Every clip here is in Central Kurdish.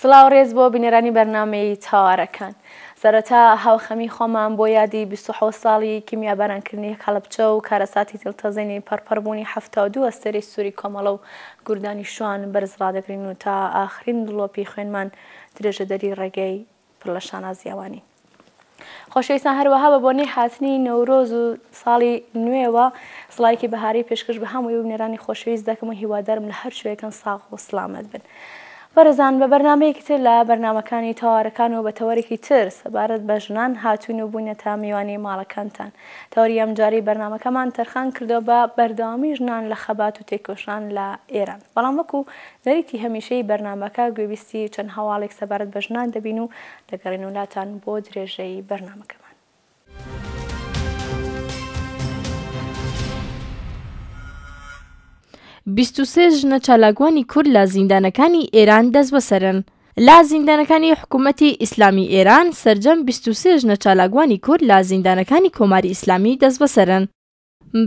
سڵاو ڕێز بۆ بینەرانی بەرنامەی تاوارەکان سەرەتا هاوخەمی خۆمان بۆ یادی بیست و حەوت ساڵی کیمیابارانکردنی هەڵەبجە و کارەساتی تلتەزێنی پەڕپەڕبوونی حەفتا و دوو ئەستێرەی سووری کۆمەڵە و گوردانی شوان بەرز ڕادەگرین و تا ئاخرین دڵۆپی خوێنمان درێژەدەری ڕێگەی پڕ لە شانازییە وانین. خۆشەویستان هەروەها بە بۆنەی هاتنی نەورۆز و ساڵی نوێوە سڵاوێکی بەهاری پێشکەش بە هەمووی ببنێرانی خۆشەویست دەکەم و هیوادارم لە هەر کوێیەکن ساغ و سڵامەت بن. بەڕێزان بە بەرنامەیەکی تر لە بەرنامەکانی تەوارەکان و بە تەوەرێکی تر سەبارەت بە ژنان هاتووین و بووینەتە میوانی ماڵەکانتان. تەوەری ئەمجارەی بەرنامەکەمان تەرخان کردووە بە بەردەوامی ژنان لە خەبات و تێکۆشان لە ئێران. بەڵام وەکو نەریتی هەمیشەیی بەرنامەکە گوێبیستی چەند هەواڵێک سەبارەت بە ژنان دەبین و دەگەڕێنەوە لاتان بۆ درێژەی بەرنامەکەمان. بیست و سێ ژنە چالاکوانی کورد لە زیندانەکانی ئێران دەستبەسەرن. لە زیندانەکانی حکوومەتی ئیسلامی ئێران سەرجەم بیست و سێ ژنە چالاکوانی کورد لە زیندانەکانی کۆماری ئیسلامی دەستبەسەرن.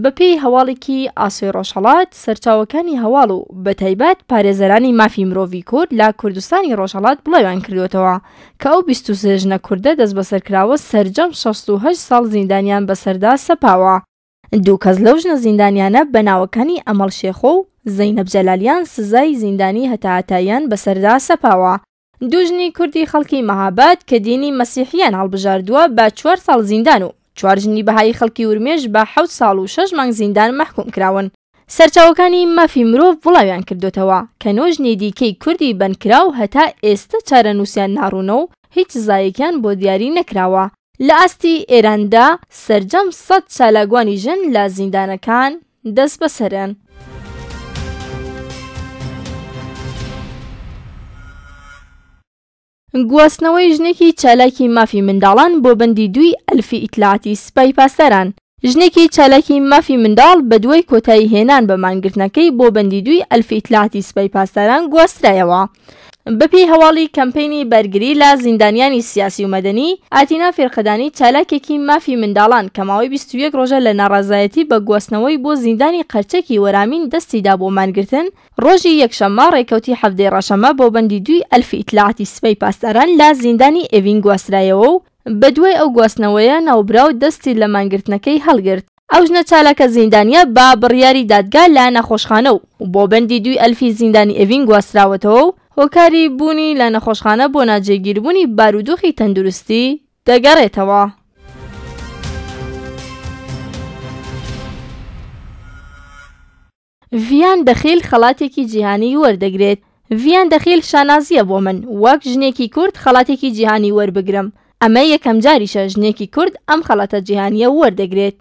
بەپێی هەواڵێکی ئاسۆی ڕۆژهەڵات، سەرچاوەکانی هەواڵ و بەتایبەت پارێزەرانی مافی مرۆڤی کورد لە کوردستانی ڕۆژهەڵات بڵاویان کردووەتەوە کە ئەو بیست و سێ ژنە کوردە دەستبەسەرکراوە سەرجەم شەست و هەشت ساڵ زیندانیان بەسەردا سەپاوە. دوو کەس لەو ژنە زیندانیانە بە ناوەکانی ئەمەڵ شێخۆ و زەینەب جەلالیان سزای زیندانی هەتاهەتاییان بەسەردا سەپاوە. دوژنی کوردی خەڵکی مەهاباد کە دینی مەسیحیان هەڵبژاردووە بە چوار ساڵ زیندان و چوار ژنی بەهایی خەڵکی ورمێش بە حەوت ساڵ و شەش مانگ زیندان مەحکووم کراون. سەرچاوەکانی مافی مرۆڤ بڵاویان کردۆتەوە کە نۆ ژنی دیکەی کوردی بەندکراو هەتا ئێستە چارەنووسیان ناڕوونە و هیچ سزایەکیان بۆ دیاری نەکراوە. لە ئاستی ئێراندا سەرجەم سەد چالاکوانی ژن لە زیندانەکان دەستبەسەرن. گواستنەوەی ژنێکی چالاکی مافی منداڵان بۆ بەندی دووی ئەلفی ئیتلاعاتی سپای پاسداران ژنێکی چالاکی مافی منداڵ بەدوای کۆتایی هێنان بە مانگرتنەکەی بۆ بەندی دووی ئەلفی ئیتلاعاتی سپای پاسداران گواسترایەوە. بەپێی هەواڵی کەمپەینی بەرگری لە زیندانیانی سیاسی و مەدەنی، ئاتینا فیرقەدانی چالاکێکی مافی منداڵان کە ماوەی بیست و یەک رۆژە لە ناڕەزایەتی بە گواستنەوەی بۆ زیندانی قەرچەکی وەرامین دەستی دا بۆ مانگرتن، رۆژی یەکشەممە رێکەوتی حەڤدەی رەشەممە بۆ بەندی دووی ئەلفی ئیتلاعاتی سپای پاسداران لە زیندانی ئێڤین گواسترایەوە و بەدوای ئەو گواستنەوەیە ناوبراو دەستی لە مانگرتنەکەی هەڵگرت. ئەو ژنە چالاکە زیندانییە بە بڕیاری دادگا لە نەخۆشخانە و بۆ بەندی دووی ئەلفی زیندانی ئێڤین گواستراوەتەوە و هۆکاری بوونی لە نەخۆشخانە بۆ ناجێگیربوونی بارودۆخی تەندروستی دەگەڕێتەوە. ڤیان دەخیل خەڵاتێکی جیهانی وەردەگرێت ڤیان دەخیل شانازییە بۆ من وەک ژنێکی کورد خەڵاتێکی جیهانی وەربگرم ئەمە یەکەم جاریشە ژنێکی کورد ئەم خەڵاتە جیهانییە وەردەگرێت.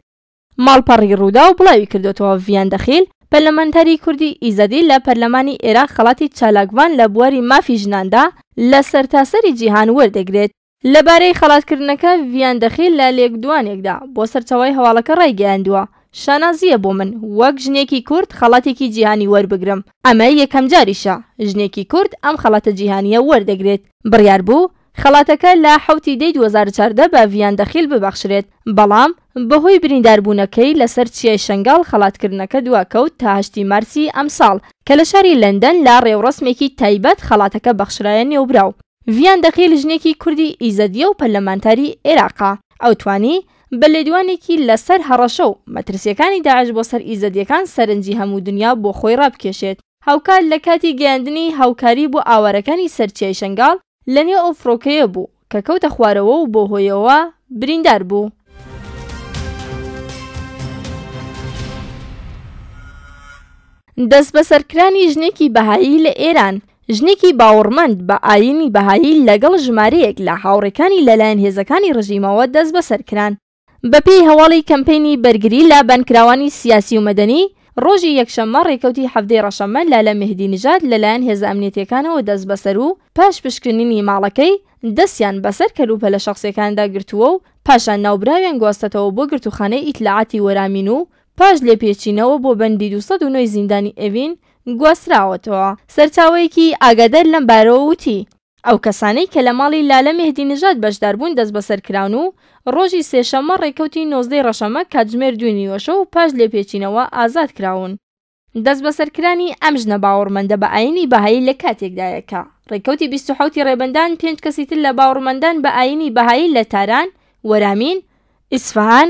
ماڵپەڕی رووداو بڵاویکردووەتەوە، ڤیان دەخیل، پەرلەمانتاری کوردی ئیزەدی لە پەرلەمانی ئێراق خەڵاتی چالاکڤان لە بواری مافی ژناندا لە سەرتاسەری جیهان وەردەگرێت. لەبارەی خەڵاتکردنەکە ڤیان دەخیل لە لێکدوانێکدا بۆ سەرچاوەی هەواڵەکە ڕایگەیاندووە، شانازییە بۆ من وەک ژنێکی کورد خەڵاتێکی جیهانی وەربگرم، ئەمە یەکەمجاریشە ژنێکی کورد ئەم خەڵاتە جیهانییە وەردەگرێت، بڕیاربوو خەڵاتەکە لە حەوت ی دەی دوو هەزار و چواردە بە ڤیان دەخیل ببەخشرێت، بەڵام بەهۆی برینداربوونەکەی لەسەر چیای شەنگاڵ خەڵاتکردنەکە دواکەوت تا هەشت ی مارسی ئەمساڵ کە لە شاری لەندەن لە ڕێوڕەسمێکی تایبەت خەڵاتەکە بەخشرایە نێوبراو. ڤیان دەقیل ژنێکی کوردی ئیزەدییە و پەرلەمانتاری عێراقە، ئەو توانی بە لێدوانێکی لەسەر هەڕەشە و مەترسییەکانی داعش بۆ سەر ئیزەدییەکان سەرنجی هەموو دنیا بۆ خۆی ڕابکێشێت، هاوکات لە کاتی گەیاندنی هاوکاری بۆ ئاوارەکانی سەر چیای شەنگاڵ لە نێو ئەو فڕۆکەیە بوو کە کەوتە خوارەوە و بەو هۆیەوە بریندار بوو. دەستبەسەرکرانی ژنێکی بەهایی لە ئێران، ژنێکی باوەڕمەند بە ئایینی بەهایی لەگەڵ ژمارەیەک لە هاوڕێکانی لەلایەن هێزەکانی ڕژیمەوە دەستبەسەر کران. بەپێی هەواڵی کەمپەینی بەرگری لە بەندکراوانی سیاسی و مەدەنی، ڕۆژی یەکشەممە ڕێکەوتی حەڤدەی ڕەشەممە لالە مێهدی نژاد لەلایەن هێزە ئەمنیەتییەکانەوە دەستبەسەر و پاش پشکنینی ماڵەکەی، دەستیان بەسەر کەلوپەلە شەخسییەکاندا گرتووە و پاشان ناوبراویان گواستەتەوە بۆ گرتووخانەی ئیتلاعاتی وەرامین و پاش لێپێچینەوە بۆ بەندی دوو سەد و نۆ ی زیندانی ئێڤین گواستراوەتەوە. سەرچاوەیەکی ئاگادار لەم بارەوە وتی، ئەو کەسانەی کە لە ماڵی لالە مێهدی نژاد بەشداربوون دەستبەسەر کراون و ڕۆژی سێشەممە ڕێکەوتی نۆزدەی ڕەشەمە کاتژمێر دووی نیوەشەو و پاش لێپێچینەوە ئازاد کراون. دەستبەسەرکرانی ئەم ژنە باوەڕمەندە بە ئایینی بەهایی لە کاتێکدایە کە ڕێکەوتی بیست و حەوتی ڕێبەندان پێنج کەسی تر لە باوەڕمەندان بە ئایینی بەهایی لە تاران، وەرامین، ئیسفەهان،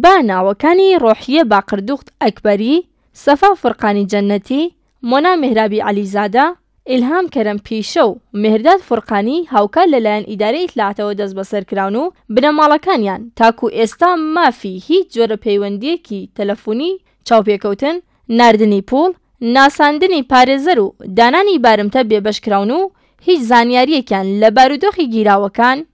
با ناوەکانی ڕۆحیە باقردوغت ئەکبەری، سەفا فورقانی جەنەتی، مۆنا مێهرابی عەلیزادە، ئیلهام کەرەم پیشە و مێهرداد فورقانی هاوکات لەلایەن ئیدارەی ئیتلاعاتەوە دەستبەسەر کراون و بنەماڵەکانیان تاکوو ئێستا مافی هیچ جۆرە پەیوەندییەکی تەلەفونی، چاوپێکەوتن، ناردنی پووڵ، ناساندنی پارێزەر و دانانی بارمتە بێبەش کراون و هیچ زانیارییەکیان لە بارودۆخی گیراوەکان،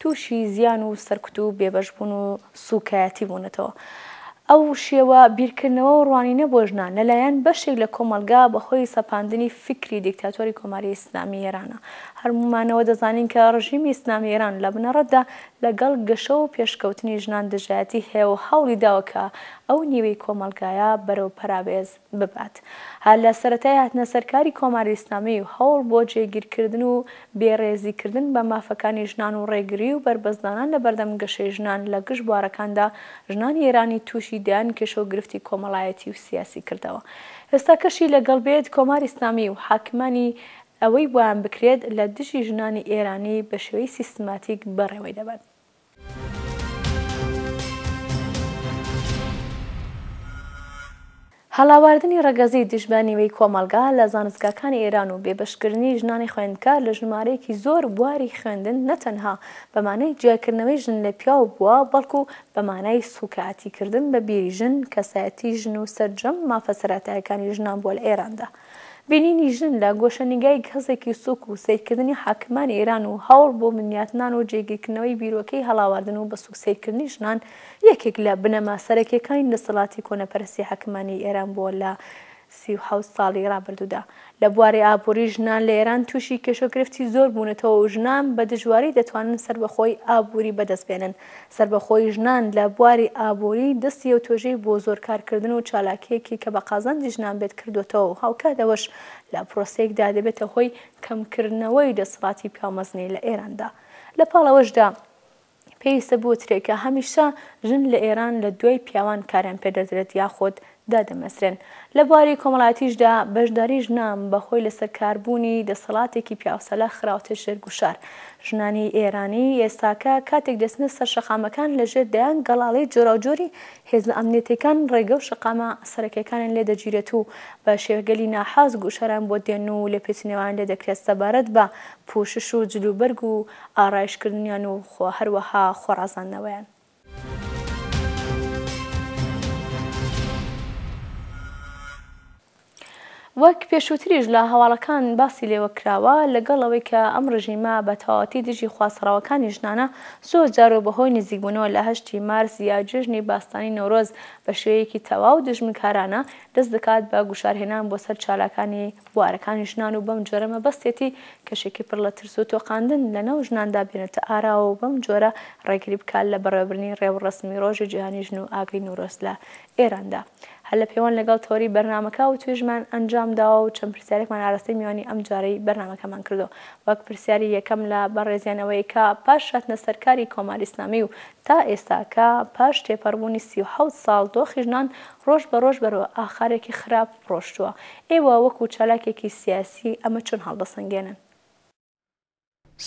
تووشی زیان و سەرکوت و بێبەش بوون و سووکایەتی بوونەتەوە. ئەو شێوە بیرکردنەوە و ڕوانینە بۆ ژنان، لە لایەن بەشێک لە کۆمەڵگا بە هۆی سەپاندنی فیکری دیکتاتۆری کۆماری ئیسلامیی ئێرانە. هەرموومانەوە دەزانین کە ڕژیمی ئیسلامیی ئێران لە بنەڕەتدا لە گەڵ گەشە و پێشکەوتنی ژنان دژایەتی هەیە و هەوڵی داوە کە ئەو نیوەی کۆمەڵگایە بەرەو پەراوێز ببات. هەر لە سەرەتای هاتنە سەر کاری کۆماری ئیسلامی و هەوڵ بۆ جێگیر کردن و بێ ڕێزی کردن بە مافەکانی ژنان و ڕێگری و بەربەستدانان لە بەردەم گەشەی ژنان لە گشت بوارەکاندا ژنانی ئێرانی تووشی دەیان کێشە و گرفتی کۆمەڵایەتی و سیاسی کردەوە ئێستاکەشی لە گەڵ بێت کۆماری ئیسلامی و حاکمانی ئەوەی بۆیان بکرێت لە دژی ژنانی ئێرانی بە شێوەی سیستماتیک بەڕێوەی دەبەن. هەڵاواردنی ڕەگەزی دژ بە نیوەی کۆمەڵگا لە زانستگاکانی ئێران و بێبەشکردنی ژنانی خوێندکار لە ژمارەیەکی زۆر بواری خوێندن نەتەنها بە مانای جیاکردنەوەی ژن لە پیاو بووە، بەڵکو بە مانای سووکایەتیکردن بە بیری ژن، کەسایەتی ژن و سەرجەم مافە سەرەتایەکانی ژنان بووە لە ئێراندا. بینینی ژن لە گۆشەنیگای گهزێکی سووک و سەیرکردنی حاکمانی ئێران و هەوڵ بۆ بنیاتنان و جێگیرکردنەوەی بیرۆکەی هەڵاواردن و بە سووک سەیرکردنی ژنان یەکێک لە بنەما سەرەکییەکانی دەسەڵاتی کۆنەپەرستی حاکمانی ئێران بووە لە سی و حەوت ساڵی ڕابردوودا. لە بواری ئابووری ژنان لە ئێران تووشی کێشەو گرفتی زۆر بوونەتەوە و ژنان بە دژواری دەتوانن سەربەخۆی ئابووری بەدەست بێنن. سەربەخۆیی ژنان لە بواری ئابووری، دەستی یەو توێژەی بۆ زۆر کارکردن و چالاکییەکی کە بە قازانجی ژنان بێت کردۆتەوە و هاوکات ئەوەش لە پرۆسەیەکدا دەبێتە هۆی کەمکردنەوەی دەسەڵاتی پیاومەزنی لە ئێراندا. لە پاڵ ئەوەشدا پێویستە بوترێ کە هەمیشە ژن لە ئێران لە دوای پیاوان کاریان پێ دەدرێت یاخود دادەمەزرێن. لە بواری کۆمەڵایەتیشدا بەشداری ژنان بە هۆی لەسەر کار بوونی دەسەڵاتێکی پیاوسالار خراوەتە ژێر گوشار. ژنانی ئێرانی ئێستاکە کاتێک دەچنە سەر شەقامەکان لە ژێر دەیان گەڵاڵەی جۆراوجۆری هێزە ئەمنیەتیەکان ڕێگە و شەقامە سەرەکیەکانیان لێ دەگیرێت و بە شێوەگەلی ناحاز گوشاران بۆ دێن و لێپێچینەوەیان لێ دەکرێت سەبارەت بە پوشش و جلوبەرگ و ئارایشکردنیان و هەروەها خۆڕازاندنەوەیان. وەک پێشووتریش لە هەواڵەکان باسی لێوە کراوە، لەگەڵ ئەوەی کە ئەم ڕژیمە بە تەواوەتی دژی خواستە ڕەواکانی ژنانە، زۆر جار و بەهۆی نزیکبوونەوە لە هەشتی مارس یا جێژنی باستانی نەورۆز بە شێوەیەکی تەواو دوژمنکارانە دەست دەکات بە گوشارهێنان بۆ سەر چالاکانی بوارەکانی ژنان و بەم جۆرە مەبەستێتی کەشێکی پڕ لە ترس و تۆقاندن لە ناو ژناندا بێنێتە ئاراوە و بەم جۆرە ڕێگری بکات لە بەڕێوەبردنی ڕێوڕەسمی ڕۆژی جیهانی ژن و ئاگری نورۆز لە ئێراندا. هەر لە پێوەند لەگەڵ تەوەری بەرنامەکە وتوێژمان ئەنجام داوە و چەند پرسیارێکمان ئاراستەی میوانی ئەم جارەی بەرنامەکەمان کردووە وەک پرسیاری یەکەم لە بەڕێزیان ئەوەیە کە پاش هاتنە سەر کاری کۆماری ئیسلامی و تا ئێستا کە پاش تێپەڕبوونی سی و حەوت ساڵ دۆخی ژنان ڕۆژ بە ڕۆژ بەرەوە ئاخارێکی خراپ ڕۆشتووە. ئێوە وەکو چالاکێکی سیاسی ئەمە چۆن هەڵدەسەنگێنن؟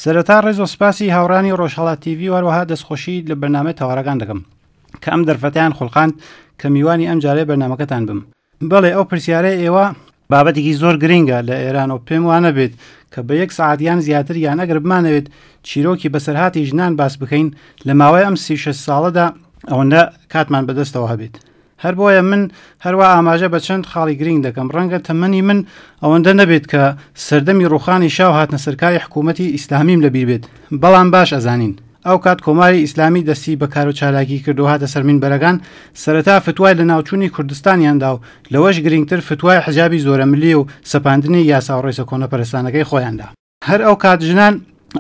سەرەتا ڕێز و سپاسی هاوڕانی ڕۆژهەڵات تیڤی و هەروەها دەستخۆشی لە بەرنامەی تەوارەکان دەکەم کە ئەم دەرفەتیان خوڵقاند کە میوانی ئەم جارەی بەرنامەکەتان بم بەڵێ ئەو پرسیارە ئێوە بابەتێکی زۆر گرنگە لە ئێران و پێم وانە بێت کە بە یەک سعات یان زیاتر یان ئەگەر بمانەوێت چیرۆکی بەسەرهاتی ژنان باس بکەین لە ماوەی ئەم سی شەش ساڵەدا ئەوەندە کاتمان بەدەستەوە هەبێت هەر بۆیە من هەروا ئاماژە بە چەند خاڵی گرینگ دەکەم، ڕەنگە تەمەنی من ئەوەندە نەبێت کە سەردەمی ڕووخانی شا و هاتنەسەرکاری حکوومەتی ئیسلامیم لە بیر بێت، بەڵام باش ئەزانین ئەو کات کۆماری ئیسلامی دەستی بە کار و چالاکی کرد و هاتە سەر مینبەرەکان، سەرەتا فتوای لەناوچوونی کوردستانیان دا و لەوەش گرینگتر فتوای حجابی زۆرەملی و سەپاندنی یاسا و ڕێسە کۆنەپەرستانەکەی خۆیان دا. هەر ئەو کات ژنان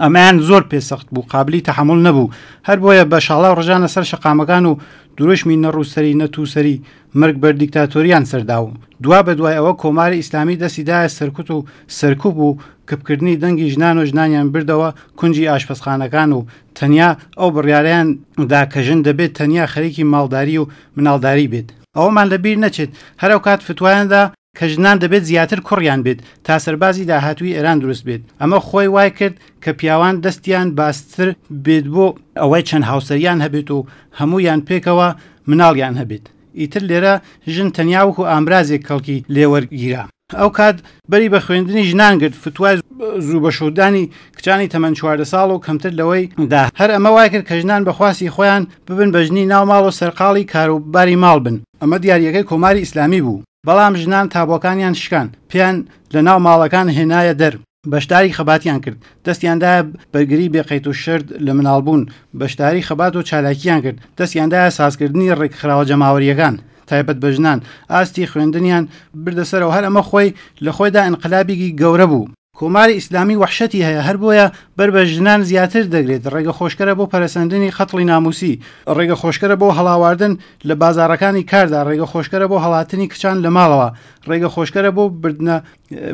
ئەمەیان زۆر پێسەخت بوو قابلی تەحمل نەبوو هەر بۆیە بە شاڵا و ڕژانە سەر شقامەکان و درۆشمی نەڕووسری نەتووسری مرگ بەر دیکتاتۆریان سەردا و دوا بە دوای ئەوە کۆماری ئیسلامی دەستیدایە سەرکوت و سەرکوب و کپکردنی دەنگی ژنان و ژنانیان بردەوە کنجی ئاشپەسخانەکان و تەنیا ئەو بڕیاریان دا کە ژن دەبێت تەنیا خەریکی ماڵداری و مناڵداری بێت ئەوەمان لەبیر نەچێت هەرو کات فتوایاندا کە ژنان دەبێت زیاتر کوڕیان بێت تا سەربازی داهاتووی ئێران دروست بێت، ئەمە خۆی وای کرد کە پیاوان دەستیان بازتر بێت بۆ ئەوەی چەند هاوسەریان هەبێت و هەموویان پێکەوە مناڵیان هەبێت، ئیتر لێرە ژن تەنیا وەکو ئامرازێک کەڵکی لێ وەرگیرا. ئەو کات بەری بە خوێندنی ژنان گرت، فتوای زوو بەشوودانی کچانی تەمەن چواردە ساڵ و کەمتر لەوەی دا، هەر ئەمە وای کرد کە ژنان بە خواستی خۆیان ببن بە ژنی ناو ماڵ و سەرقاڵی کاروباری ماڵ بن، ئەمە دیارییەکەی کۆماری ئیسلامی بوو. بەڵام ژنان تابۆکانیان شکان پێیان لە ناو ماڵەکان هێنایە دەر بەشداری خەباتیان کرد دەستیاندایە بەرگری بێقەیت و شرد لە مناڵبوون بەشداری خەبات و چالاکیان کرد دەستیاندایە سازکردنی ڕێکخراوە جەماوەریەکان تایبەت بە ژنان ئاستی خوێندنیان بردە سەرەوە هەر ئەمە خۆی لە خۆیدا ئینقلابیکی گەورە بوو. کۆماری ئیسلامی وەحشەتی هەیە هەر بۆیە بەر بە ژنان زیاتر دەگرێت، ڕێگە خۆشکەرە بۆ پەرەسەندنی قەتڵی نامووسی، ڕێگە خۆشکەرە بۆ هەڵاواردن لە بازاڕەکانی کاردا، ڕێگە خۆشکەرە بۆ هەڵاتنی کچان لە ماڵەوە، ڕێگە خۆشکەرە بۆ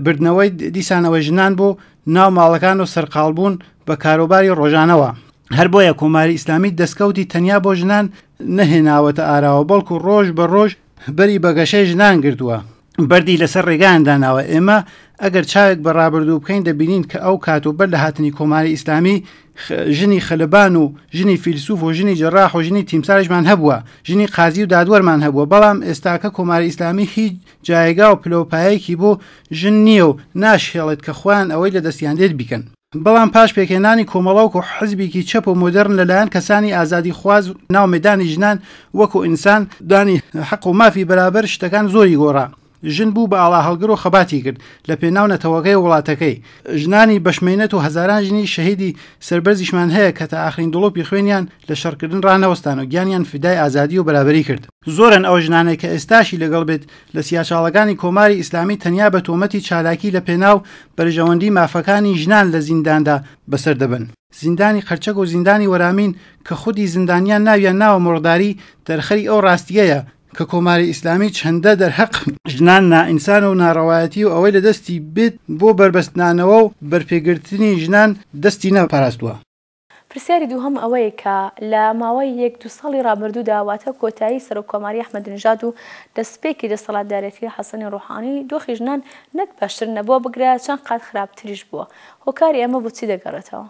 بردنەوەی دیسانەوەی ژنان بۆ ناو ماڵەکان و سەرقاڵبوون بە کاروباری ڕۆژانەوە. هەر بۆیە کۆماری ئیسلامی دەستکەوتی تەنیا بۆ ژنان نەهێناوەتە ئاراوە، بەڵکو ڕۆژ بە ڕۆژ بەری بە گەشەی ژنان گرتووە. بەردی لەسەر ڕێگایان داناوە ئێمە ئەگەر چاوێک بە ڕابردوو بکەین دەبینین کە ئەو کات و بەر لە هاتنی کۆماری ئیسلامی ژنی خەلبان و ژنی فیلسوف و ژنی جراح و ژنی تیمسارشمان هەبووە ژنی قازی و دادوەرمان هەبووە بەڵام ئێستاکە کۆماری ئیسلامی هیچ جایگا و پلەوپایەکی بۆ ژن نییە و ناشهێڵێت کە خۆیان ئەوەی لە دەستیان دێت بیکەن بەڵام پاش پێکهێنانی کۆمەڵەوک و حزبیکی چەپ و مۆدێرن لە لایەن کەسانی ئازادی خواز ناو مەیدانی ژنان وەکو ئینسان دانی حەق و مافی بەرابەر شتەکان زۆری گۆڕا. ژن بوو بە ئاڵا هەڵگر و خەباتی کرد لە پێناو نەتەوەکەی و وڵاتەکەی. ژنانی بەش مەینەت و هەزاران ژنی شەهیدی سەربەرزیشمان هەیە کە تا ئاخرین دڵۆپی خوێنیان لە شەڕکردن ڕانەوەستان و گیانیان فیدای ئازادی و بەرابەری کرد. زۆرن ئەو ژنانەی کە ئێستاشی لەگەڵ بێت لە سیاچاڵەکانی کۆماری ئیسلامی تەنیا بە تۆمەتی چالاکی لە پێناو بەرژەوەندی مافەکانی ژنان لە زینداندا بەسەر دەبەن. زیندانی قەرچەک و زیندانی وەرامین کە خودی زیندانیان ناویان ناوە مۆڕداری دەرخەری ئەو ڕاستییەیە کە کۆماری ئیسلامی چەندە دەرهەق ژنان نائینسانە و ناڕەوایەتی و ئەوەی لە دەستی بێت بۆ بەربەستنانەوە و بەرپێگرتنی ژنان دەستی نەپاراستووە. پرسیاری دووهەم ئەوەیە کە لە ماوەی یەک دوو ساڵی ڕابردوودا واتە کۆتایی سەرۆک کۆماری ئەحمەدینژاد و دەسپێکی دەسەڵاتدارێتی حەسەنی ڕوحانی دۆخی ژنان نەک باشتر نەبووە بگرە چەند قات خراپتریش بووە هۆکاری ئەمە بۆ چی دەگەڕێتەوە؟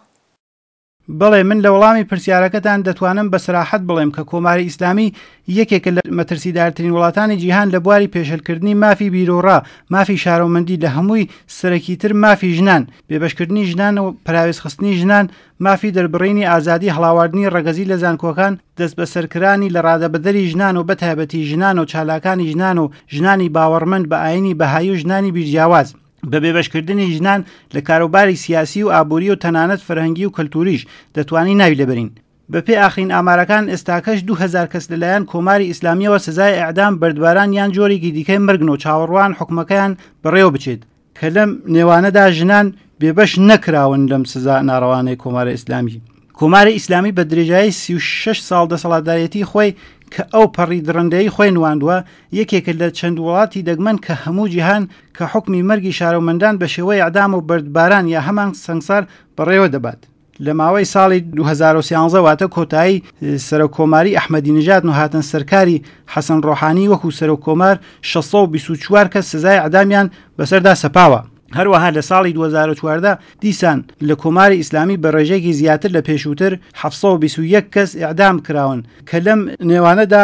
بەڵێ من لە وەڵامی پرسیارەکەتان دەتوانم بە سەراحەت بڵێم کە کۆماری ئیسلامی یەکێکە لە مەترسیدارترین وڵاتانی جیهان لە بواری پێشێلکردنی مافی بیروڕا، مافی شارۆمەندی لە هەمووی سەرەکیتر مافی ژنان. بێبەشکردنی ژنان و پەراوێزخستنی ژنان، مافی دەربڕینی ئازادی هەڵاواردنی ڕەگەزی لە زانکۆکان، دەستبەسەرکرانی لەڕادەبەدەری ژنان و بەتایبەتی ژنان و چالاکانی ژنان و ژنانی باوەڕمەند بە ئایینی بەهایی و ژنانی بیرجیاواز، بە بێبەشکردنی ژنان لە کاروباری سیاسی و ئابووری و تەنانەت فەرهەنگی و کەلتووریش، دەتوانین ناوی لێبەرین. بەپێی ئاخرین ئامارەکان، ئێستاکەش دوو هەزار کەس لەلایەن کۆماری ئیسلامییەوە سزای ئێعدام، بەردباران یان جۆرێکی دیکەی مەرگن و چاوەڕوان حوکمەکەیان بەڕێوەبچێت. کە لەم نێوانەدا ژنان بێبەش نەکراون لەم سزا ناڕەوانەی کۆمارە ئیسلامی کۆماری ئیسلامی بە درێژایی 36 ساڵ دەسەڵاتدارەتی خۆی کە ئەو پەڕی دڕندەی خۆی نواندووە یەکێکە لە چەند وڵاتی دەگمەن کە هەموو جیهان کە حکمی مەرگی شارۆمەندان بە شێوەی ئەعدام و بەردباران یا هەمان سەنگسار بەڕێوە دەبات لە ماوەی ساڵی 2013 واتە کۆتایی سەرۆک کۆماری ئەحمەدی نژات و هاتن سەرکاری حەسەن ڕۆحانی وەکو سەرۆک کۆمار 1624 کە سزای عدامیان بەسەردا سەپاوە هەروەها لە ساڵی 2014 دیسان لە کۆماری ئیسلامی بە ڕێژێکی زیاتر لە پێشووتر 1920 کەس ئەعدام کراون کە لەم نێوانەدا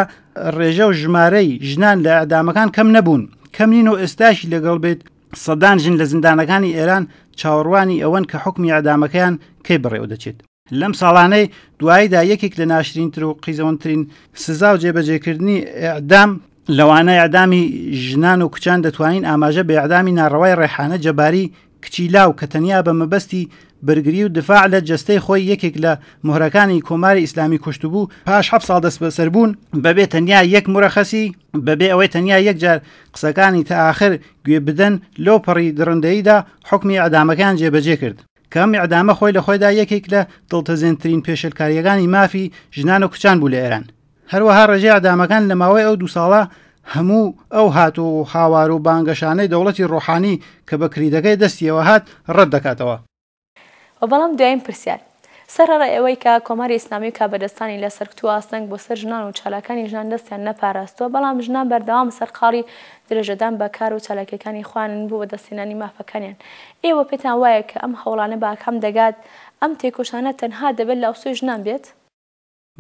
ڕێژە و ژمارەی ژنان لە ئەدامەکان کەم نەبوون کەم نین و ئێستاشی لەگەڵ بێت سەدان ژن لە زیندانەکانی ئێران چاوەڕوانی ئەوەن کە حکومی ئەدامەکەیان کەی بڕێوە دەچێت لەم ساڵانەی دواییدا یەکێک لە ناشرینتر و قیزەونترین سزا و جێبەجێکردنی ئەعدام لەوانە ئەعدامی ژنان و کچان دەتوانین ئاماژە بە ئەعدامی ناڕەوای ڕێحانە جەباری کچی لاو کە تەنیا بە مەبەستی بەرگری و دفاع لە جەستەی خۆی یەکێک لە مهرەکانی کۆماری ئیسلامی کوشتبوو پاش حەب ساڵ دەست بەسەربوون بەبێ تەنیا یەک مرەخەسی بەبێ ئەوەی تەنیا یەکجار قسەکانی تا ئاخر گوێ بدەن لەو پەڕی دڕندەییدا حوکمی ئیعدامەکەیان جێبەجێ کرد کە ئەم ئیعدامە خۆی لە خۆیدا یەکێک لە دڵتەزێنترین پێشێلکارییەکانی مافی ژنان و کچان بوو لە ئێران هەروەها ڕێژەی ئیعدامەکان لە ماوەی ئەو دوو ساڵە هەموو ئەو هات و هاوار و بانگەشانەی دەوڵەتی ڕۆحانی کە بە کریدەکەی دەستیەوە هات ڕەت دەکاتەوە. وە بەڵام دوایین پرسیار سەر ڕای ئەوەی کە کۆماری ئیسلامی و کاربەدەستانی لە سەرکوت و ئاستەنگ بۆ سەر ژنان و چالاکانی ژنان دەستیان نەپاراستووە بەڵام ژنان بەردەوام سەرقاڵی درێژەدان بە کار و چالاکیەکانی خۆیانن بۆ بەدەستهێنانی مافەکانیان ئێوە پێتان وایە کە ئەم هەوڵانە بە ئاکام دەگات ئەم تێکۆشانە تەنها دەبێت لە ئەوسۆی ژنان بێت؟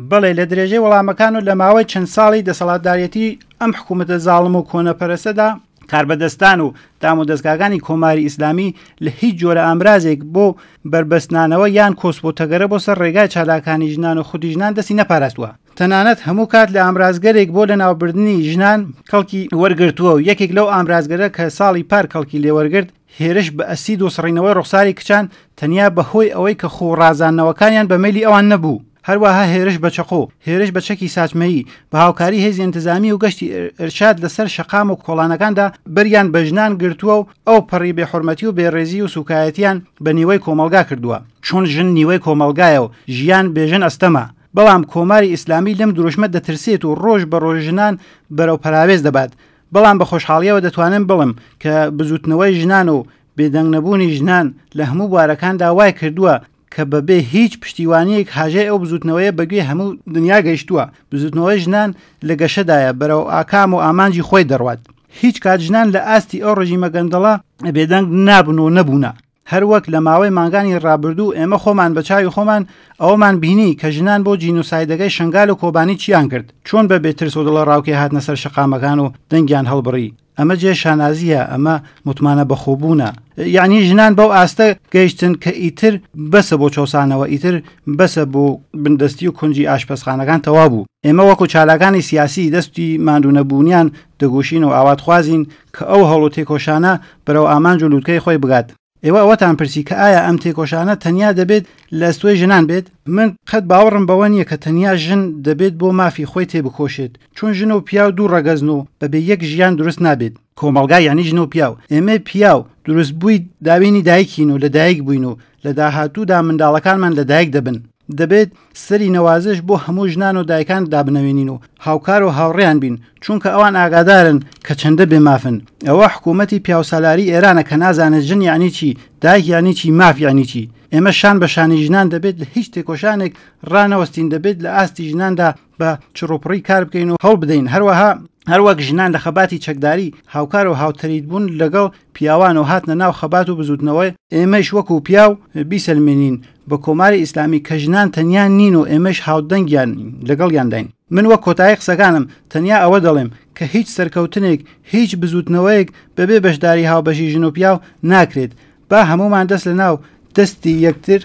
بەڵێ لە درێژەی وەڵامەکان و لە ماوەی چەند ساڵی دەسەڵاتدارەتی ئەم حکوومەتە زاڵم و کۆنەپەرەسەدا کاربەدەستان و دام و دەستگاکانی کۆماری ئیسلامی لە هیچ جۆرە ئامرازێک بۆ بربەستنانەوە یان کۆس بۆ تەگەرە بۆ سەر ڕێگای چالاکانی ژنان و خودی ژنان دەستی نەپاراستوە تەنانەت هەموو کات لە ئامرازگەرێک بۆ لە ناوبردننی ژنان کەڵکی وەرگرتووە و یەکێک لەو ئامرازگەرە کە ساڵی پار کەڵکی لێوەرگرت هێرش بە ئەسید و سڕینەوەی ڕوخساری کچان تەنیا بە هۆی ئەوەی کە خوو ڕازاندنەوەکانیان بە مەیلی ئەوان نەبوو، هەروەها هێرش بە چەقۆ، هێرش بە چەکی ساچمەیی، بە هاوکاری هێزی ئینتزامی و گەشتی ئیرشاد لە سەر شەقام و کۆڵانەکاندا بەریان بە ژنان گرتووە و ئەو پەڕی بێ حورمەتی و بێ ڕێزی و سوکایەتیان بە نیوەی کۆمەڵگا کردووە. چون ژن نیوەی کۆمەڵگایە و ژیان بێ ژن ئەستەمە. بەڵام کۆماری ئیسلامی لەم دروشمە دەترسێت و ڕۆژ بە ڕۆژ ژنان بەرەو پەراوێز دەبات. بەڵام بە خۆشحاڵیەوە دەتوانم بڵم کە بزوتنەوەی ژنان و بێدەنگنەبوونی ژنان لە هەموو بوارەکاندا وای کردووە کە بەبێ هیچ پشتیوانیەک هاژەی ئەو بزوتنەوەیە بەگوێ هەموو دنیا گەیشتووە بزوتنەوەی ژنان لە گەشەدایە بەرەو ئاکام و ئامانجی خۆی دەڕوات هیچ کات ژنان لە ئاستی ئەو ڕژیمە گەندەڵە بێدەنگ نابن و نەبوونە هەروەک لە ماوەی مانگانی ڕابردوو ئێمە خۆمان بە چاوی خۆمان ئەوەمان بینی کە ژنان بۆ جینۆسایدەکەی شنگال و کۆبانی چیان کرد چۆن بە بێترس و دڵەڕاوکێ هاتنە سەر شەقامەکان و دەنگیان هەڵبڕی ئەمە جێ شانازییە ئەمە متمانە بەخۆبوونە یعنی ژنان بەو ئاستە گەیشتن کە ئیتر بەسە بۆ چەوسانەوە ئیتر بەسە بۆ بندەستی و کونجی ئاشپەزخانەکان تەوا بوو ئێمە وەکو چالاکانی سیاسی دەستی ماندوونەبوونیان دەگوشین و ئاواتخوازین کە ئەو هەوڵ و تێکۆشانە بەرەو ئامانج و لووتکەی خۆی بگات. ئێوە ئەوەتان پرسی کە ئایا ئەم تێکۆشانە تەنیا دەبێت لە ئەستۆی ژنان بێت؟ من قەت باوەڕم بەوە نییە کە تەنیا ژن دەبێت بۆ مافی خۆی تێبکۆشێت، چون ژن و پیاو دوو ڕەگەزن و بەبێ یەک ژیان دروست نابێت، کۆمەڵگا یانی ژن و پیاو، ئێمەی پیاو دروستبووی داوێنی دایکین و لەدایک بووین و لە داهاتوودا منداڵەکانمان لەدایک دەبن، دەبێت سەری نەوازش بۆ هەموو ژنان و دایکان دابنەوێنین و هاوکار و هاوڕێیان بین چونکە ئەوان ئاگادارن کە چەندە بێمافن ئەوە حکوومەتی پیاوسالاری ئێرانە کە نازانێت ژن یعنی چی دایک یعنی چی ماف یعنی چی ئێمە شان بە شانی ژنان دەبێت لە هیچ تێکۆشانێک ڕانەوەستین دەبێت لە ئاستی ژناندا بە چڕوپڕی کار بکەین و هەوڵ بدەین هەروەها هەروەک ژنان لە خەباتی چەکداری هاوکار و هاوتەریت بوون لەگەڵ پیاوان و هاتنە ناو خەبات و بزوتنەوەی ئێمەش وەکو پیاو بیسەلمێنین بە کۆماری ئیسلامی کە ژنان تەنیا نین و ئێمەش هاودەنگیان لەگەڵ یانداین من وەک کۆتایی قسەکانم تەنیا ئەوە دەڵێم کە هیچ سەرکەوتنێک هیچ بزوتنەوەیەک بەبێ بەشداری هاوبەشی ژن و پیاو ناکرێت با هەمومان دەست لە ناو دەستی یەکتر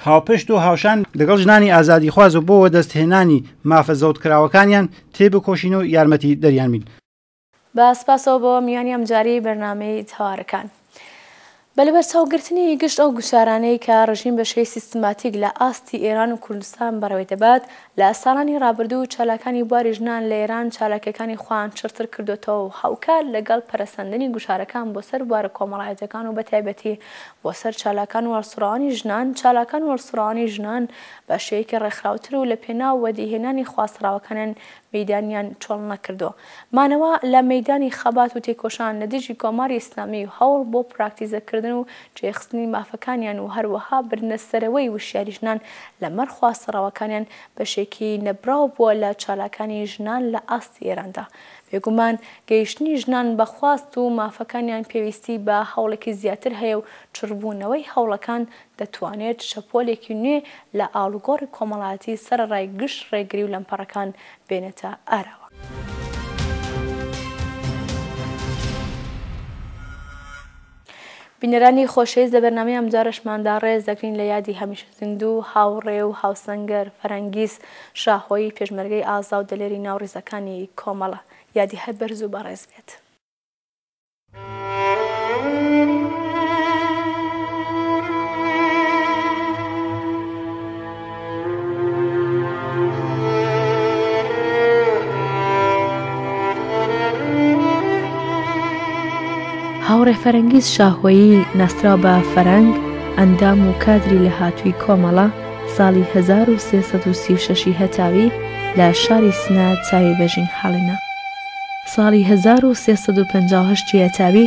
هاوپشت و هاوشان لەگەڵ ژنانی ئازادیخواز و بۆ وەدەستهێنانی مافە زەوتکراوەکانیان تێبکۆشین و یارمەتی دەریان بین. بە سپاسەوە بۆ میوانی ئەمجارەی بەرنامەی تەوارەکان. بە لەبەرچاو گرتنی گشت ئەو گوشارانەی کە ڕژیم بە شێوەی سیستماتیک لە ئاستی ئێران و کوردستان بەڕێوەی دەبات، لە ساڵانی ڕابردوو چالاکانی بواری ژنان لە ئێران چالاکییەکانی خۆیان چڕتر کردۆتەوە و هاوکات لەگەڵ پەرەسەندنی گوشارەکان بۆ سەر بوارە کۆمەڵایەتییەکان و بە تایبەتی بۆ سەر چالاکان وهەڵسوڕاوانی ژنان، چالاکان وهەڵسوڕاوانی ژنان بە شێوەیەکی ڕێکخراوتر و لە پێناو وەدیهێنانی خواستە ڕاوەکانیان مەیدانیان چۆڵ نەکردووە. مانەوە لە مەیدانی خەبات و تێکۆشان لە دژی کۆماری ئیسلامی و هەوڵ بۆ پراکتیزە کردن و جێخستنی مافەکانیان و هەروەها بردنە سەرەوەی وشیاری ژنان لە مەڕ خواستە ڕاوەکانیان بەشێکی نەبڕاو بووە لە چالاکانی ژنان لە ئاستی ئێراندا بێگومان گەیشتنی ژنان بە خواست و مافەکانیان پێویستی بە هەوڵێکی زیاتر هەیە و چڕبوونەوەی هەوڵەکان دەتوانێت شەپۆلێکی نوێ لە ئاڵوگۆڕی کۆمەڵایەتی سەرەڕای گشت ڕێگری و لەمپەڕەکان بێنێتە ئاراوە. بینەرانی خۆشەویست لە بەرنامەی ئەمجارەشماندا ڕێز دەگرین لە یادی هەمیشە زیندوو و هاوڕێ و هاوسەنگەر فەرەنگیز شاهۆیی پێشمەرگەی ئازا و دلێری ناو ڕیزەکانی کۆمەڵە. یادی هەر بەرز و بەڕێز بێت. هاوڕێ فەرەنگیز شاهۆیی ناسراو بە فەرەنگ ئەندام و کادری لە هاتووی کۆمەڵە ساڵی 1336 هەتاوی لە شاری سنا چاوی بەژین حاڵنە ساڵی 1350 هەتاوی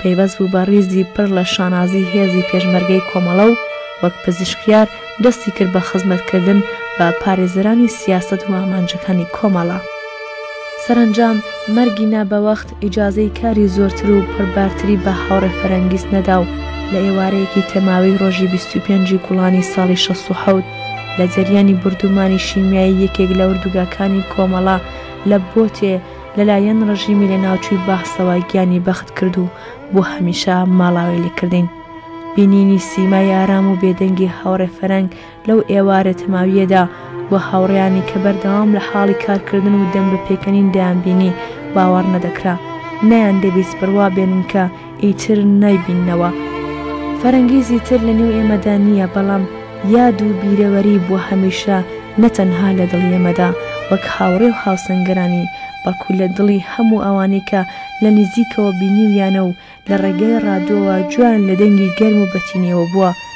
پەیوەست بوو بە ڕیزی پڕ لە شانازی هێزی پێشمەرگەی کۆمەڵە و وەک پزیشکیار دەستی کرد بە خزمەتکردن بە پارێزەرانی سیاسەت و ئامانجەکانی کۆمەڵە. سەرەنجام مەرگی نا بە وەخت ئیجازەی کاری زۆرتر و پڕبارتری بە هاوڕێ فەرەنگیز نەدا و لە ئێوارەیەکی تەماوی ڕۆژی بیست و پێنجی گوڵانی ساڵی شەست و حەوت لە جەریانی بوردومانی شیمیایی یەکێک لە ئوردوگاکانی کۆمەڵە لە بۆتێ لەلایەن ڕژیمی لەناوچووی بەعسەوە گیانی بەخت کرد و بۆ هەمیشە ماڵاوای لێ کردین. بینینی سیمای ئارام و بێدەنگی هاوڕێ فەرەنگ لەو ئێوارە تەماوییەدا و هاوڕێیانی کە بەردەوام لە حاڵی کارکردن و دەم بە پێکەنین دەیانبینی باوەڕ نەدەکرا. نەیاندەویست بڕوا بێنن کە ئیتر نایبیننەوە. فەرەنگیزی تر لە نێو ئێمەدا نییە، بەڵام یاد و بیرەوەری بووە هەمیشە نە تەنها لە دڵی ئێمەدا وەک هاوڕێ و هاوسەنگەرانی، بەڵکو لە دڵی هەموو ئەوانەی کە لە نیزیکەوە بینیویانە و لە ڕێگای ڕادیۆوە گوێیان لە دەنگی گەرم و بەتینیەوە بووە.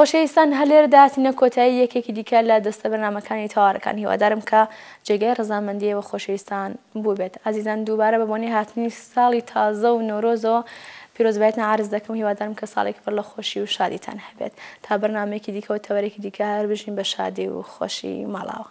خۆشەویستان هەلێردا تینە کۆتایی یەکێکی دیکە لە دەستە بەرنمەکانی تەوارەکان هیوادارم کە جێگای ڕزامەندیەوە خۆشەویستان بووبێت ئازیزان دووبارە بە بۆنی هاتنی ساڵی تازە و نۆرۆزەوە پیرۆزبێتە عرز دەکەم هیوادارم کە ساڵێک پڕ لە خۆشی و شادیتان هەبێت تا بەرنمێکی دیکەەوە تەوەرێکی دیکە هەر بژین بە شادی و خۆشی ماڵاوە